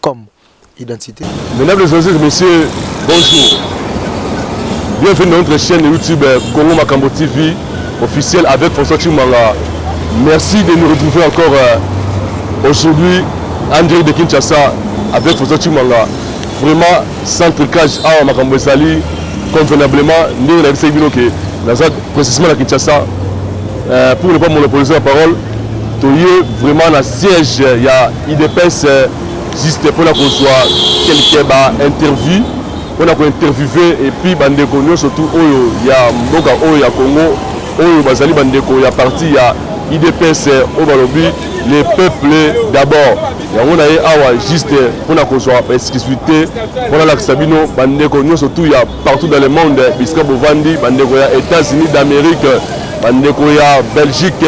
comme identité. Mesdames et messieurs, messieurs, bonjour. Bienvenue dans notre chaîne YouTube Congo Makambo TV officielle avec François Chimanga. Merci de nous retrouver encore euh, aujourd'hui en direct de Kinshasa avec François Chimanga. Vraiment, sans trucage, awa ah, makambo ezali convenablement ndenge nayebisaki bino ke naza précisément na Kinshasa euh, pour ne pas monopoliser la parole Toye vraiment na siège ya IDPS euh, juste pona kozwa quelques ba interview pona ko interviewer et puis bandeko nyonso tout oyo ya mboka oyo ya Congo oyo bazali bandeko ya parti ya IDPS euh, oyo balobi les peuples d'abord yango na ye awa juste pona kozwa exclusivité pona lakisa bino bandeko nyonso tout ya partout dans le monde bisika bovandi bandeko ya Etats-Unis d'Amérique bandeko ya Belgique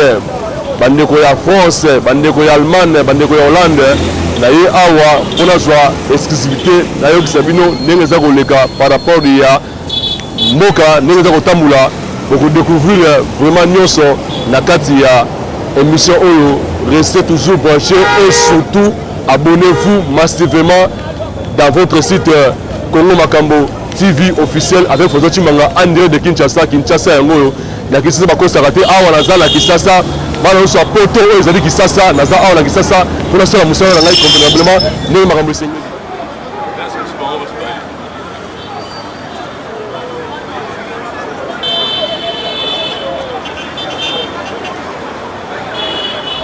bandeko ya France bandeko ya Allemagne bandeko ya Hollande na ye awa mpo nazwa exclusivité nayokisa bino ndenge eza koleka par rapport ya mboka ndenge eza kotambola bokodécouvrir vraiment nyonso na kati ya émission oyo restez toujours branché et surtout abonnez-vous massivement Dans votre site euh, Congo Makambo TV officiel avec François Chimanga André de Kinshasa, Kinshasa yango oyo ya Kinshasa bakosaka te awa naza na Kinshasa bana nyonso ya poto oyo ezali Kinshasa naza awa na Kinshasa mpo nasala mosala na ngai convenablement ndenge makambo esengeli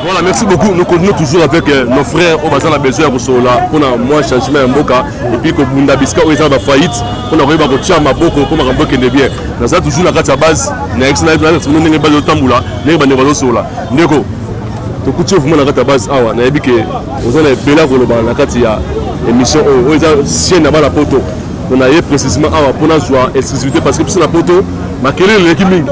Voilà, merci beaucoup. Nous continuons toujours avec euh, nos frères au Bazar la Belgique pour cela, pour moi changement en Boka et puis que Bunda Biska au Ezaba faillite, pour arriver à Kotia Maboko, pour un Boka de bien. Nous avons toujours la carte à base, nous avons toujours la carte à base, nous avons toujours la carte à base, nous avons toujours la carte à base, nous avons tokuti yo vraimen na kati ya base awa nayebi ke oza na ebele ya koloba na kati ya émission oyo oyo eza sienne na bana poto Mpo na ye precisement awa mpo nazwa exclusivité parce que biso na poto makelele eleki mingi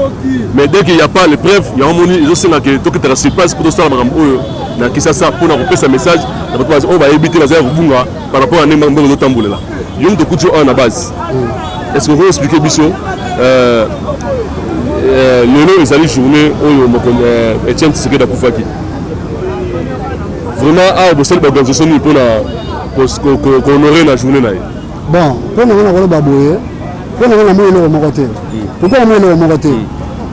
mais dès qu'il y a pas les preuves yango moni ezosenga ke tokitaka sur place mpo tosala makambo oyo na kisasa mpo na kopesa message na bato oyo bayebi te bazali kobunga par rapport ya ndenge mbongo ezotambolela yo moto okuti oyo na base est ce que okoki expliquer biso euh, euh, lelo ezali journée oyo euh, etienne tisekedi akufaki vraiment awa bosali baorganisation nini mpo na kohonore na journée na ye bon mpo nango nakoloba boye mpo nango namoni eloko moko te hmm. pourkoi namoni eloko moko te hmm.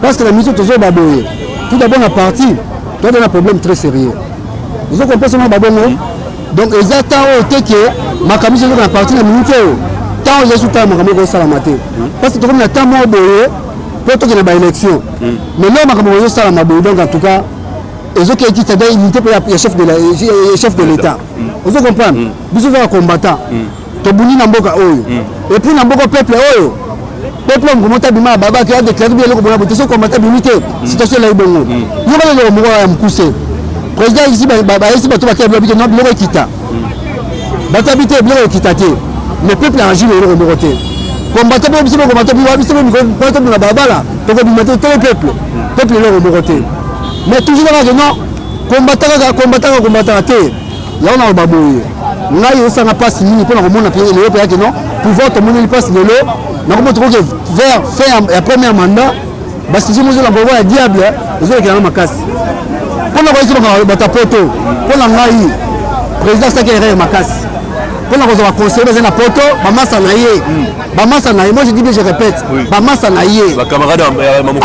parce que na miso tozoba boye tout d'abord na parti toyaka na problème très sérieux ozo comprendre na babongo hmm. donc eza temps oyo te ke makambo ezoyoka na parti na minute oyo temps oyo ezali sutala makambo ekosalama te parce que tokomi na temps moko boye mpo tokende ba élection mais leo makambo oyo ezosalama boye donc en tout cas ezokeyekisa da unité mpe ya chef de l'état ozo comprendre mm. biso za combattant mm. tobuni na mboka oyo mm. et puis na mboka peuple oyo peuple ngo mota bima baba ki a déclarer bien loko bona boteso combattant bimi te situation la ibongo yo ba loko moko ya mukuse président ici ba ba ici ba to ba ke blobi non loko kita ba ta bité loko kita te mais peuple a agi loko moko te combattant bo biso combattant bo biso bo ko ko to na baba la to ko bima te to peuple peuple loko moko te mais toujours là non Kombataka kombataka kombataka te. Yango naloba boye. Ngai osanga pasi mingi mpo na komona mpe lelo mpe yake no pouvoir tomoneli pasi lelo nakomona tokoki vers fin ya première mandat basusu mozola pouvoir ya diable ezolekela na makasi mpo na koyesi lokola bata poto mpo na ngai président asaki erreur makasi mpo na kozwa baconseiller bazali na poto bamasa na ye bamasa na ye moi je dis bien je répète bamasa na ye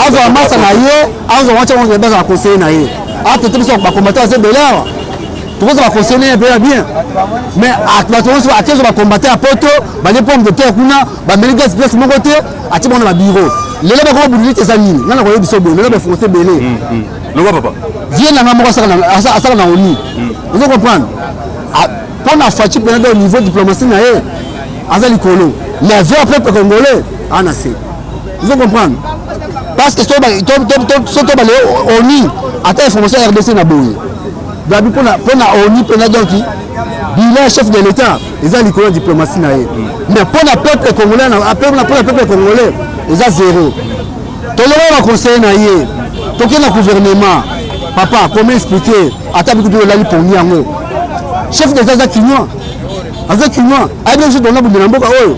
azwa masa na ye azo wacha wango baza ba conseiller na ye ate te biso ba combattant azo belera tokozo ba conseiller pe ya bien mais ba tokozo ba kezo ba combattant poto ba ne pomme de terre kuna ba meli gas place moko te ati bona ba bureau lelo ba ko bulu te zanini nana ko yebiso bo lelo ba français belé mm, mm. loba papa vieux nanga moko asaka na asaka na oni mm. ozo comprendre pona fachi pena do niveau diplomatie na ye aza likolo mais vieux peuple congolais ana se ozo comprendre parce que soki tobale oni ata information ya rdc na boye gabi mpo na oni mpe na donki bilan chef de l'état eza likolo ya diplomatie na ye mais mpo na peuple congolais mpo na peuple congolais eza zero tolongola baconseille na ye toke na gouvernement papa comment expliquer ata bikutu olali pongi yango chef de l'état aza kinois aza kinois ayebi biso tolona bundela mboka oyo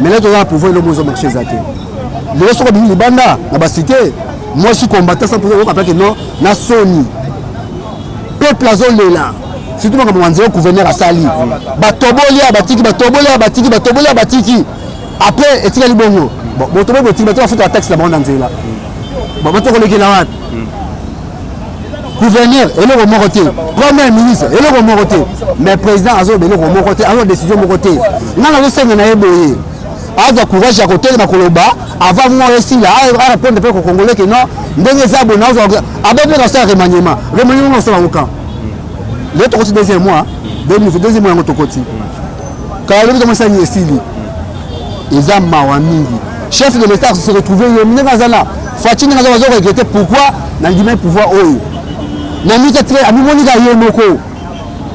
Maintenant toza na pouvoir eloko ezo marche eza te lelo soko bimi libanda na basite mwasi kombata sa mpoza oyoka mpake no na soni peuple azolela surtout makambo manzela gouverneur asali batoboli ya batiki batoboli ya batiki batoboli ya batiki après etikali bongo botoboki botiki bato bafuta bataxe na bango na nzela bato kolekela wapi gouverneur eloko moko te premier ministre eloko moko te mais président azoloba eloko moko te azwa décision moko te nga nazosenga na ye boye azwa courage ya kotelema koloba avant mwa esila arépondre mpe kokongole ke non ndenge eza boye naozwa abe mpe nasala remaniement remaniement osala okan leo tokoti deuxième mois deuxième mois yango tokoti kala lobi kama sani esili eza mawa mingi chef de l'état se retrouve yo ndenge aza na faci ndenge aza bazo regrete pourquoi nandimai pouvoir oyo na mika tre amimoni ka ye moko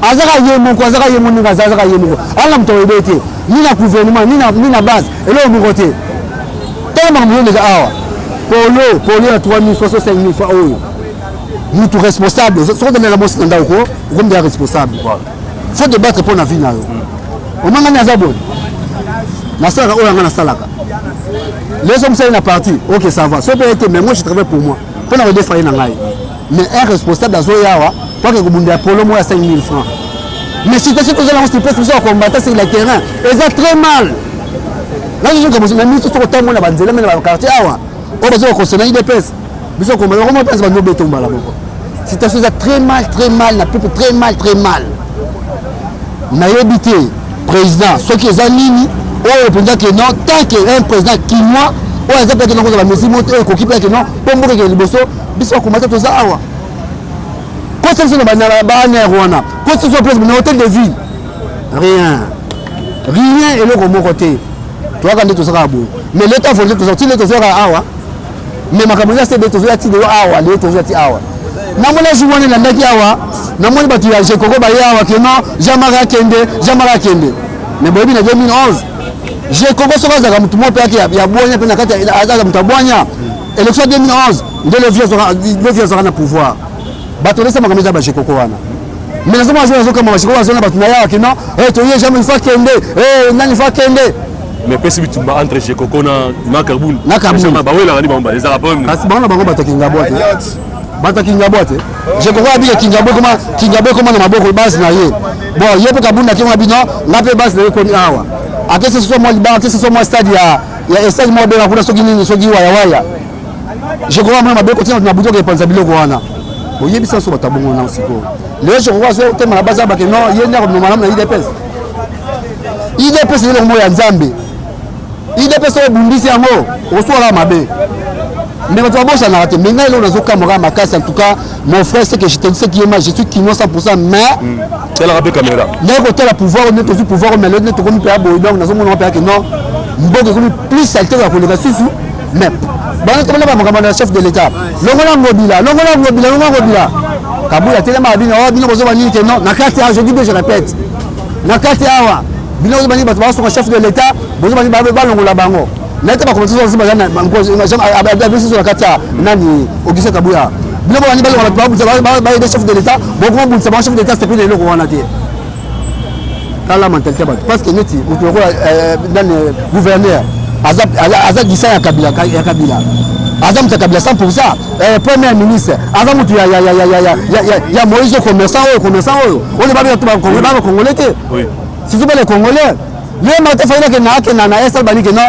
azaka ye moko azaka ye moko ndenge aza azaka ye moko anga moto oyebe te ni na gouvernement ni na base eloko moko te tala makambo yo ndeka awa polo polo ya 3000 fois 5000 fois oyo mutu responsable soki ozali na mwasi na ndako ko okomi deya responsable faut te battre mpo na vie na yo omangani aza boye nasalaka oyo yanga nasalaka leso mosali na parti ok ça va soki ete mais moi je travaille pour moi mpo na kodefaye na ngai mais un responsable azoyawa mpo ake kobundela polo moko ya 5000 francs mais situation tozala yango sipesi biso ya combattant sur le terrain eza très mal nazozoka na miso soki otambola na banzela mena bakartier awa oyo bazoka kosona idps biso koma yango moko mpenza bando obeto mbala moko situation eza très mal très mal na pepe très mal très mal nayebi te président soki eza nini oyo mpenza ke non tant que un président kinois oyo aza mpe nakozala mesure moko te oyo ekoki mpe ke non mpo mboka ekende liboso biso bakoma te toza awa kosa biso na baner wana kosa biso place na hotel de ville rien rien eloko moko te toyaka nde tozaka boye mais leta volonté tozaka ti nde tozwaka awa mais makambo eza sebe tozoya ti lelo awa lelo tozoya ti awa namoni azwi wana elandaki awa namoni bato ya jekoko baye awa ke non jean mari akende jean mari akende mais boyebi na 2011 jekoko soki azalaka motu moko mpe yake ya bwanya mpe na kati aza moto ya bwanya élection 2011 nde levi azwaka na pouvoir Bato olesa makambo eza bajekoko wana mais nazo mona nazo kama bajekoko bazo na bato na yawa kino eh, toye jamais il faut akende eh, nani il faut akende mais pesi bitumba entre jekoko na na kabuni na kabuni bawelaka ni bango bale ezalaka problème kasi bango na bango bato kingabwa te bato ya kingabwa te jekoko abika kingabwa ekoma kingabwa ekoma na maboko base na ye bon ye mpe kabuni na kima bino nga mpe base na ye ekoni awa akesi soso mwa libanga akesi soso mwa stade ya ya estade moko bena kuna soki nini soki wayawaya je crois mwana mabe kotina na butoka epanza biloko wana oyebisa nso bato abongo na sikoyo lelo je crois so tema na basa bake no ye nde akomema malamu na idps idps eloko moko ya nzambe idps oyo obundisi yango osuwaka mabe mais bato babosanaka te mais ngai eloko nazokamwaka makasi en tout cas mon frère c'est que je te dis ce qui est mal je suis kinois 100 mais hmm. talaka mpe caméra naye kotala pouvoir oyo nde tozwi pouvoir oyo mais lelo nde tokomi mpe ya boye donc nazomona mpe yake non mboka ekomi plus salite ya koleka susu mais bana tomona ba makambo na chef de l'état longola ngobila longola ngobila longola ngobila kabula telema bino awa oh, bino bozoba nini te non na kati awa je dis bien je répète na kati awa bino bozoba nini bato basunga chef de l'état bozoba nini balongola bango naye te bakomite sosi baza na biso na kati ya nani ogise kabuya bino bobandi balongola bato babundisa baye de chef de l'état bokoma bundisa bango chef de l'état sepeli na eloko wana te tala mentalite ya bato parce que neti moto lokola euh, nani euh, gouverneur aza gisa ya kabila ya kabila aza moto ya kabila 100 pourcent euh, premier ministre aza moto ya moïse oyo commerçant oyo commerçant oyo oyo babia to bakongole te surtout bale congolais ye mata fayina ke na ake na na esal banike non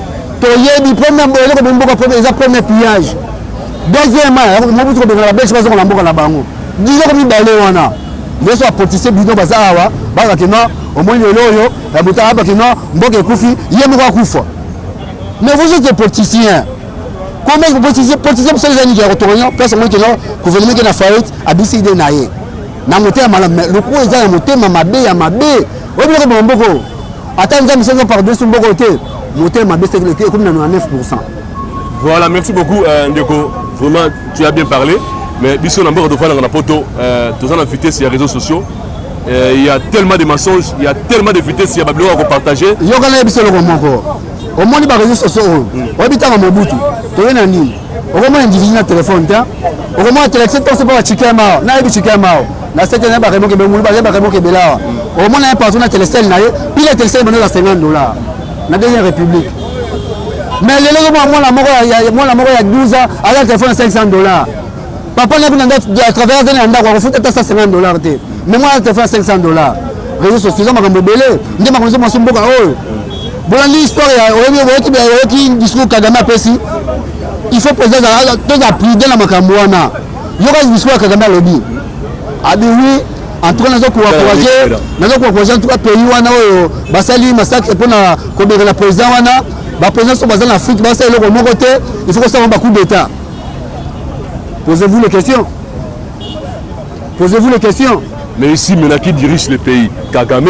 toyebi premier eloko bomi mboka premier eza premier pillage deuxièmement mobutu kobengana babelge bazonga na mboka na bango biloko mibale wana yesu apotise bino baza awa bakakino omoni lelo oyo ya moto abakino mboka ekufi ye moko akufa mais vous êtes politicien comment vous politicien politicien mosala eza nini ya kotokonya place omoni kino gouvernement ke na faillite abisi ide na ye na motema malamu mais lokumu eza na motema mabe ya mabe oyo biloko bamaboko Ata nzambe soki opardone so mboko te motema mabe seki leki ekomi na 99 pourcent voilà merci beaucoup euh, ndeko vraiment tu as bien parlé mais biso na mboka tofandaka na poto euh, toza na vitesse ya réseaux sociaux euh, il y a tellement de mensonges il y a tellement de vitesse ya babiloko ya kopartage yokana ye biso eloko moko omoni baréseau sociaux oyo oyebi ntango mobutu toye na nini okomona individu na telefone te okomona telekise toso mpo bachikema awa nayebi chikema awa na sete naye bakemoke bemulu baye bakemoke ebele awa okomona ye partout na telesele na ye pile ya telesele ebandaki ya 50 dollar na deuxième république mais lelo okomona mwana moko mwana moko ya 12 ans aza na telefone ya 500 dollar papa nayebi na ndako ya travailleur azali na ndako akofuta ata 150 dollar te mais mwana ya telefone ya 500 dollar réseau sociaux eza makambo ebele nde makambo ezo mwasi mboka oyo bolandi histoire ya oyebi oyoki oyoki discours kagame apesi il faut président toza prudent na makambo wana yoka discours ya kagame alobi abi oui en tout cas nazo koencourage nazo koencourage en tout cas pays wana oyo basali masacre mpo na kobeka na président wana baprésident so baza na afrique basala eloko moko te il faut kosala bacoup d'état posez-vous les questions posez-vous les questions mais ici maintenant qui dirige le pays kagame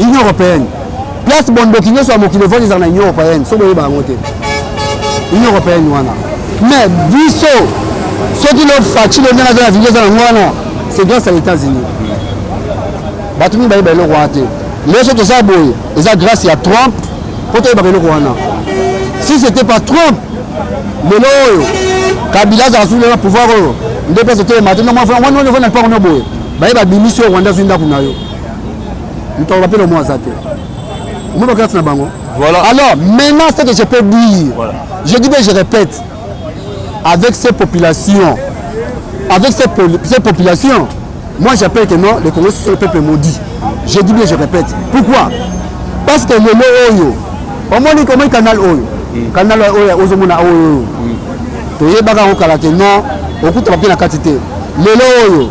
union européenne place bondoki nyonso ya mokili evandi ezala na union européenne soki boyeba yango te union européenne wana mais biso soki lo faci lo ndenge aza na video eza na yango wana c'est grâce à états-unis bato mingi bayeba eloko wana te lelo soki toza boye eza grâce ya trump mpo toyebaka eloko wana si c'était pas trump lelo oyo kabila azala soki na pouvoir oyo nde place otelema te ndomwana fana wana wana fana mpango na boye baye babimisi oyo rwanda azwi ndako na yo Moto aloba mpe na mwa aza te. Omoni bakati na bango. Voilà. Alors, maintenant, ce que je peux dire, voilà. je dis bien, je répète, avec ces populations, avec ces, poli ces populations, moi j'appelle que non, le Congo c'est le peuple maudit. Je dis bien, je répète. Pourquoi Parce que le mot oyo, au moins comment le canal oyo, mm. canal oyo, ozomona oyo, mm. toyebaka okala que non, okutaka mpe na kati te. Lelo oyo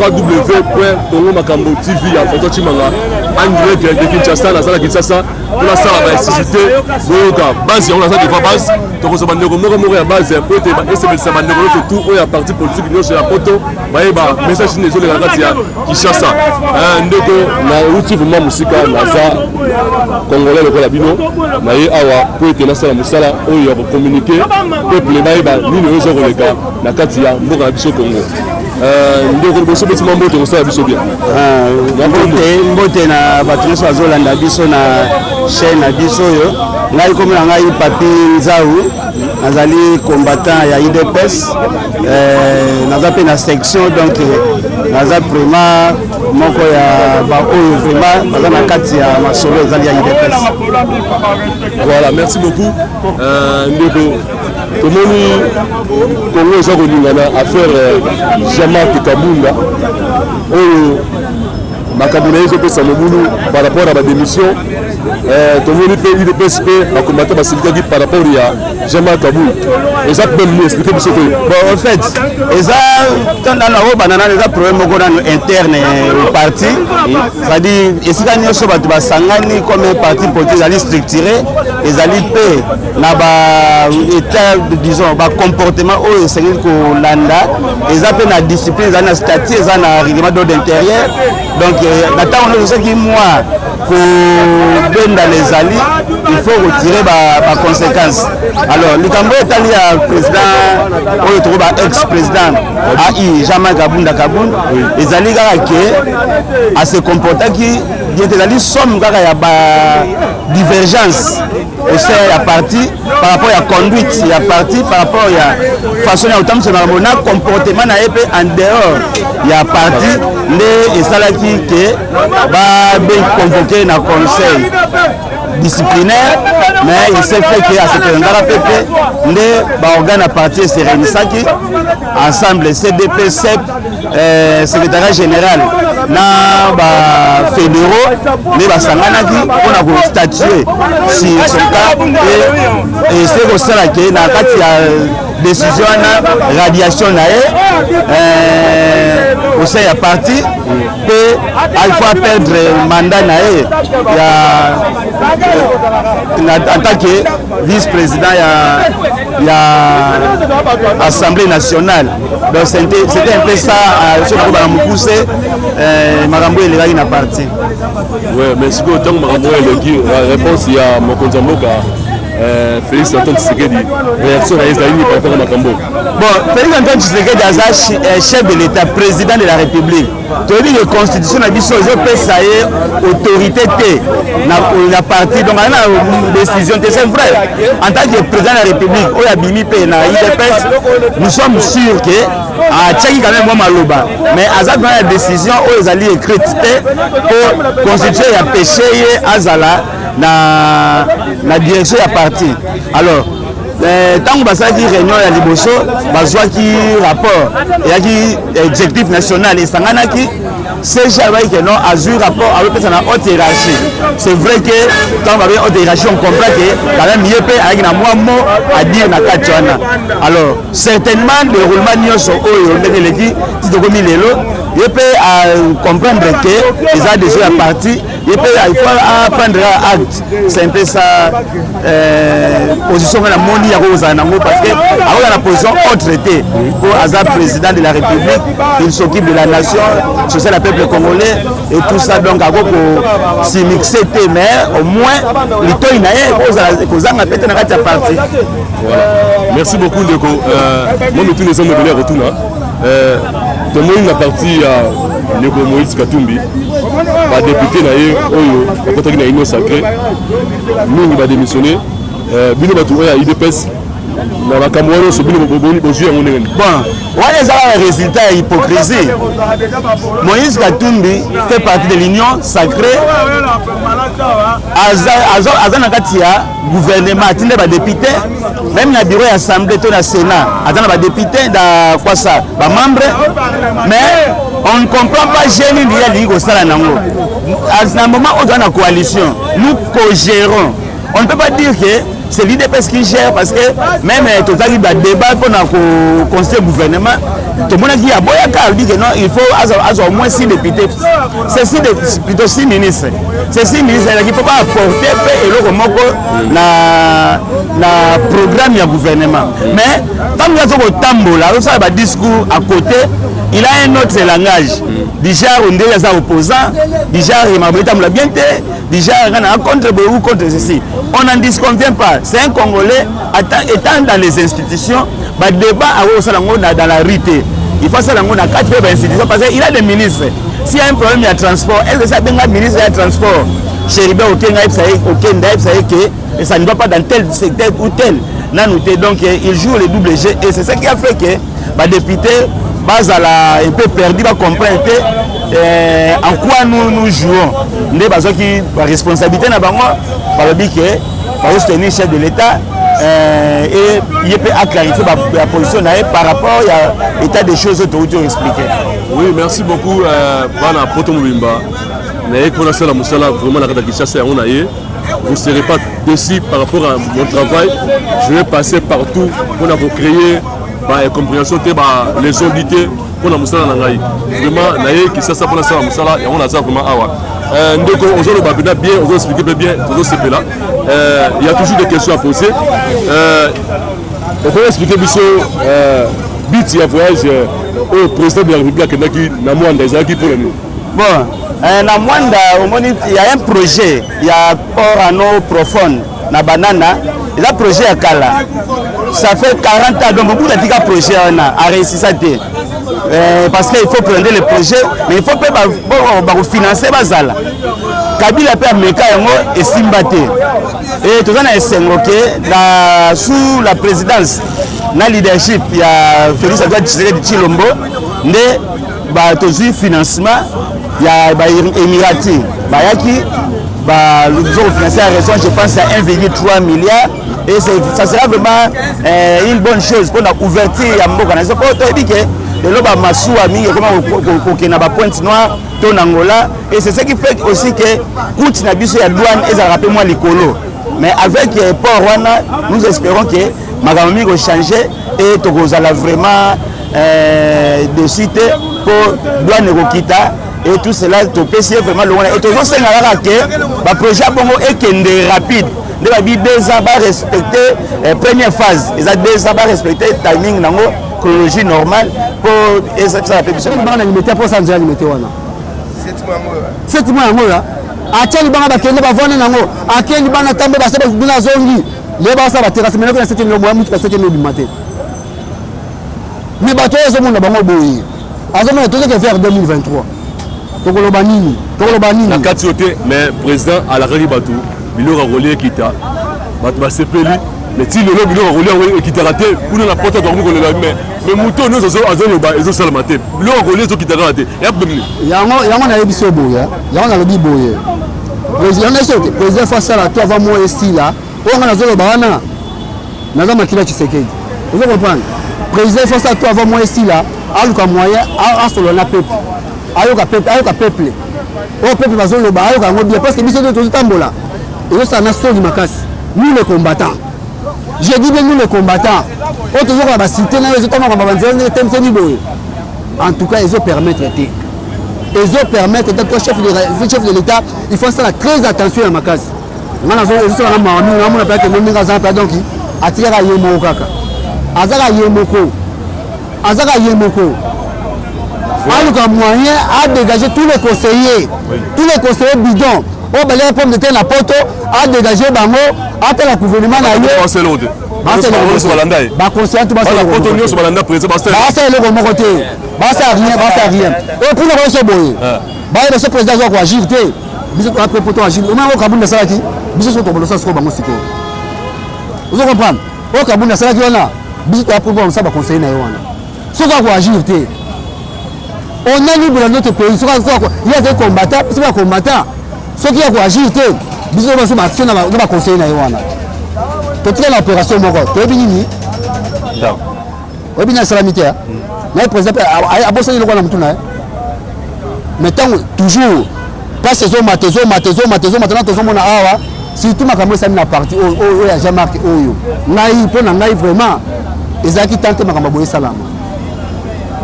www.congomakambotv ya François Tshimanga en direct de Kinshasa naza na Kinshasa mpo nasala baelectricité boyoka base yango naza devoir base tokozwa bandeko moko moko ya base mpo ete esepelisa bandeko nyonso tout oyo ya parti politique nyonso ya poto bayeba message nini ezoleka kati ya Kinshasa eh, ndeko nauti vraimen mosika naza congolais lokola bino naye awa mpo ete nasala mosala oyo ya kokommunike peuple bayeba nini oyo ezokoleka na kati ya mboka na biso Congo Euh, ndeko liboso beti mwa mbote kosala biso bien euh, mbote na bato nyonso bazolanda biso na chaîne na biso oyo ngai komi na ngai papi nzau nazali combattant ya idps euh, naza mpe na section donc naza vraiment moko ya baoyo vraiment baza na kati ya masolo ezali ya idps voilà merci beaucoup ndeko tomoni kongo eza kolingana affaire eh, jamak kabunda oyo makambo na ye ezopesa mobulu par rapport ya badémission eh, tomoni mpe udps mpe bakombata basilikaki par rapport ya jamak kabunda eza problème explike biso te bon en fait eza tanda na oyo banana eza problème moko nano interne eh, parti c'est-à-dire esika nyonso bato basangani comme parti politique ezali structuré ezali mpe na ba etat disons ba comportement oyo esengeli kolanda eza mpe na discipline eza na statut eza na règlement d'ordre intérieur donc euh, na ntango nyonso soki mwa kobendana ezali il faut kotire baconséquence alors likambo oyo etali ya président oyo toko ba ex président ai jamais kabunda kabund ezali kaka ke ase comportaki ete ezali somme kaka ya ba divergence au sein ya parti par rapport ya conduite ya parti par rapport ya façon ya kotambwisa makambo na comportement na ye mpe en dehors ya parti nde esalaki ke babengi convoqué na conseil disciplinaire mais il s'est fait que asepresentaka mpe te nde baorgane ya parti eserenisaki ensemble cdp sep eh, secrétariat général na bafédéraux nde basanganaki mpona kostatue sur son cas e ese kosala ke na kati ya décision wana radiation na ye eh, au sein ya parti mpe alfa perdre mandat na ye ya en tant que vice-président ya, ya assemblée nationale donc c'était un peu ça euh, soki kobana mokuse euh, makambo oyo elekaki na parti oui mais sikoyo ntango makambo oyo eleki réponse ya mokonzi ya mboka euh, félix antoine tshisekedi réaction na ye ezali nini par rapport ya makambo bon félix antoine tshisekedi aza chef de l'état président de la république toyebi ke constitution na biso ezopesa ye autorité te na parti donc aza na décision te c'est vrai en tant que président ya république oyo abimi mpe na idps nous sommes sûrs ke atiaki ah, quand même mwa maloba mais aza mpena ya décision oyo ezali écrite te mpo constitution ya péché ye azala na, na direction ya parti alors ntango basalaki réunion ya liboso bazwaki rapport eyaki exécutif national esanganaki CG alobaki ke non azwi rapport azopesa na haute hiérarchie c'est vrai ke ntango babe haute hiérarchie on comprend ke quand même ye mpe ayaki na mwa mo adire na kati wana alors certainement déroulement nyonso oyo ndenge eleki ti tokomi lelo ye mpe acomprendre ke eza déjà ya parti ye mpe il faut aprendre acte c'est un peu ça euh, position nga namoni yango kozala nango parce que akoza na position autre te mpo aza président de la république il s'occupe de la nation social ya peuple congolais et tout ça donc ako kosimixe te mais au moins litoi na ye kozanga mpe te na kati ya parti merci beaucoup ndeko euh, mo mituna eza mobele ya kotuna Eh, tomoni na parti ya ndeko moïse katumbi badepute na ye oyo bakotaki na union sacré mingi badémissionne eh, bino bato oyo ya idps na makambo wana nyonso bino bozwi yango ndenge wana ezalaka résultat ya hypocrisie moïse katumbi fait partie de l'union sacré aza na kati ya gouvernement atinde badepute meme na bureau ya assemblée to na sénat aza na badepute na kwasa bamembre mais on ne comprend pas geni nini alingi kosala nango na moment oyo toza na coalition nous cogérons on ne peut pas dire que c'est l'idps qui gère parce que même eh, tozalaki badébat mpona conseil gouvernement tomonaki aboyaka alobi que non il faut azwa au moins six députés c'est six plutôt six ministres ceci mise ezalaki mpo baaporte mpe eloko moko na, na programme ya gouvernement mais ntango aza kotambola azosala badiscours à côté il a un autre langage déjà ondeli aza opposant déjà makambo etambola bien te déjà nga na contre boye ou contre ceci on n'en disconvient pas c'est un congolais Etant dans les institutions, ba débat à osala ngo na dans la rue te. Il faut asala ngo na kati pe ba institutions parce qu'il a des ministres. S'il y a un problème ya transport, est-ce que ça benga ministre ya transport? Cheriba okenga yebisa ye okenda yebisa ye que et ça ne va pas dans tel secteur ou tel nanu te donc eh, il joue le double jeu et c'est ça qui a fait que badepute bazala un peu perdu bacomprendre te eh, en quoi nous, nous jouons nde bazwaki baresponsabilité na bango balobi ke bazo soutenir chef de l'État euh, et ye mpe aclarifie ya position na ye par rapport ya état des choses oyo touti oexplike oui merci beaucoup euh, bana poto mobimba naye mpona asala mosala vraiment na kata kinshasa yango na ye vous ne serez pas déçu par rapport à mon travail je vais passer partout mpona kocréer baincompréhension te ba les ondite mpo na mosala na ngai vraiment naye kisasa mpo nasala mosala yango naza vraiment awa euh, ndeko ozoloba mpena bien ozo explike mpe bien tozosepela euh, ya toujours des questions à poser euh, okoki explike biso but ya voyage oyo président de la république akendaki na mwanda ezalaki mpo na nini bon na mwanda omoni ya un projet ya port ano profonde na banana eza projet ya kala ça fait 40 ans donc mobutu atika projet wana areusisa te eh, parce que il faut prendre le projet mais il faut mpe bakofinance bazala kabila mpe ameka yango esimba te e toza na esengo ke na sous la présidence na leadership ya félix antoine tshisekedi tshilombo nde ba tozwi financement ya ba emirati bayaki ba zo kofinanse ya raison je pense ya 1,3 milliard et ça sera vraiment euh, une bonne chose mpona ouverture ya mboka na biso mpo toyebi ke lelo bamasuwa mingi ekoma kokende na bapointe noire to na ngola et c'est ce qui fait aussi ke coute na biso ya douane ezalaka mpe mwa likolo mais avec euh, port wana nous espérons ke makambo mingi kochange e tokozala vraiment euh, dessus te mpo douane ekokita et tout cela topesi ye vraiment longo na ye tozosenga kaka ke baprojet ya bongo ekende rapide nde babi deux ans barespecte eh, première phase eza deux ans barespecte timing nango chronologie normale mpo ezakisaka mpe biso bana limete mpo sanzo ya limete wana seti mwa yango ya atya libanga bakende bavanda nango ake libanga tambe base bakuna azongi Leo basa ba terrasse menako na seke ndio mwa mutuka seke ndio bimate. Mais bato oyo mona bango boye. Azo mona tozo ke vers 2023. Tokoloba nini? Tokoloba nini? Na kati yote mais président alakaki bato biloko akolia ekita. Bato basepeli mais ti lelo biloko akolia yango ekitaka te kuna na poto tokomi kolela mais mais moto nyonso azoloba ezosalama te biloko akolia ezokitaka te yango nayebisi yo boye yango nalobi boye President na soki president faut asala tout avant moi esila oyo nga nazoloba wana naza makila Tshisekedi ozo comprendre president faut asala tout avant moi esila aluka moyen asolola na peuple ayoka peuple ayoka peuple oyo peuple bazoloba ayoka yango bien parce que biso nde tozotambola ezosala na soni makasi nous les combattants je dis bien nous les combattants oyo tozokola basite nayo ezotanga mabanzela ndenge temsemi boye En tout cas, ils ont permettre été. Ils ont permettre été. Toi, chef de, chef de l'État, il faut faire très attention à ma casse. nga nazozala mami namona mpe akende ndenge aza mpe donki atikaka ye moko kaka azaka ye moko azaka ye moko aluka moyen adégage tous les conseillers tous les conseillers bidon oyo balia pomme de terre na poto adégage bango atala gouvernement na ye bakonsiyantu bapoto nyonso balanda president basala eloko moko te basala rien basala rien oyo mpona banso boye bayeba so président azwa koagir te biso toa mpe poto agir omoi yango kabunda asalaki biso so tobolosa sikoyo bango sikoyo ozo comprendre oyo kabunda asalaki wana biso toa mpe mosala baconseille na ye wana soki akoagir te on a libre na notre pays soki ye azali combattant biso bakombata soki ya koagir te biso baso baaction na baconseille na ye wana totika na opération moko toyebi nini oyebi nini asalami te naye président mpe abosani eloko na motu na ye mais ntango toujours place ezomata ezomata ezomata ezomata na tozomona awa surtout makambo esami na parti oyo ya jean marc oyo ngai mpo na ngai vraiment ezalaki tan te makambo boye esalama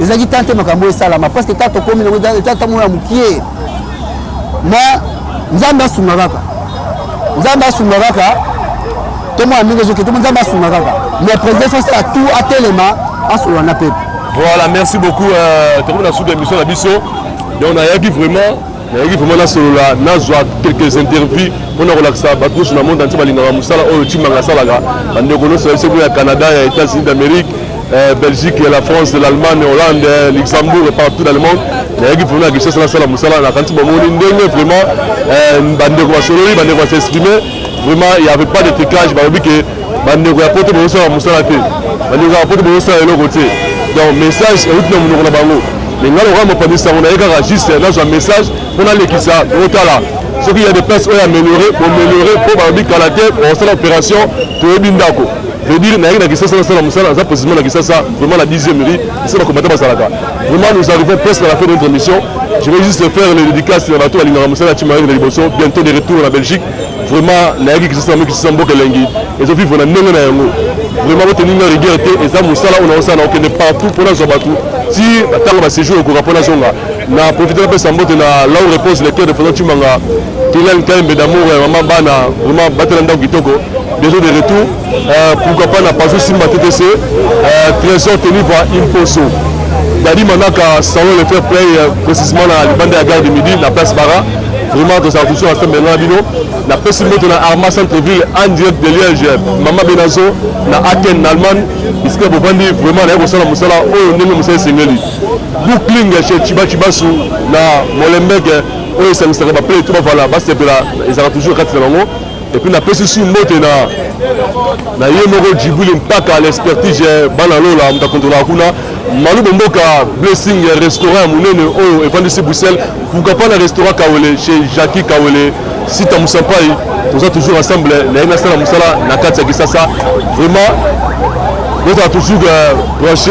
ezalaki tan te makambo esalama parce que ta tokomi nango etango ya mokie mais nzambe asunga kaka nzambe asunga kaka tomona ndenge ezoki tomo nzambe asunga kaka mais président sosi ya tout atelema asolola na pepe voilà merci beaucoup euh, tokomi na suka émission na biso donc nayaki vraiment nayaki vraiment nasolola nazwa quelques interviews mpo na kolakisa bato nyonso na monde antie balingaka mosala oyo cimanga asalaka bandeko nyonso ya biso ya canada ya états-unis d'amérique Eh, Belgique, la France, l'Allemagne, Hollande, eh, Luxembourg et partout dans le monde. nayaki mpona ya kinshasa nasala mosala nakanisi bamoni ndenge vraiment eh, bandeko basololi bandeko basexprime vraiment il y avait pas de tricage balobi ke bandeko ya poto bozosala mosala te bandeko ya poto bozosala eloko te donc message euti na monoko na bango mais ngai lokola mopanzi sango naye kaka juste nazwa message mpo nalekisa otala soki ya de place oyo améliore boméliore mpo balobi kala te osala opération toyebi ndako veut dire nayaki na kisasa nasala mosala naza précisément na kisasa vraiment na 10e rue ese bakombata bazalaka vraiment nous arrivons presque à la fin de notre émission je vais juste faire les dédicaces na bato balingaka mosala ya cimayaki na liboso bientôt de retour na belgique vraiment nayaki kisasa yango kisasa mboka elengi ezovivre na ndenge na yango vraiment boteninga rigueur te eza mosala oyo naosala na okende partout mpo nazwa bato ti ntango baséjour ekoka mpo nazonga na profite napesa mbote na lau repose lecteur de façon cimanga Dylan Kaimbe d'amour ya mama bana vraiment batela ndako kitoko bientôt de retour euh, pourquoi pas na paso simba TTC euh, trésor teniva imposo dadi manaka salon le fair play euh, précisément na libanda ya gare de midi na place bara vraiment tozala toujours na sembe na bino napesi moto na arma centreville en direct de liège mama benazo na aken na allemagne bisika bovandi vraiment naye kosala mosala oyo ndenge mosala esengeli bookling chez chibachibasu na molembeke oyo esangisaka baplay to bavala basepela ezalaka toujours kati na bango epuis napesi su mbote na na ye moko jibuli mpaka l'expertise eh, bana lola moto akontrolaka kuna malubo mboka blessing eh, restaurant ya monene oyo evandisi bruxelles pourquoi na restaurant kawele chez jacki kawele sita mosampai toza toujours ensemble eh, naye nasala mosala na kati ya kisasa vraiment bozala toujours branche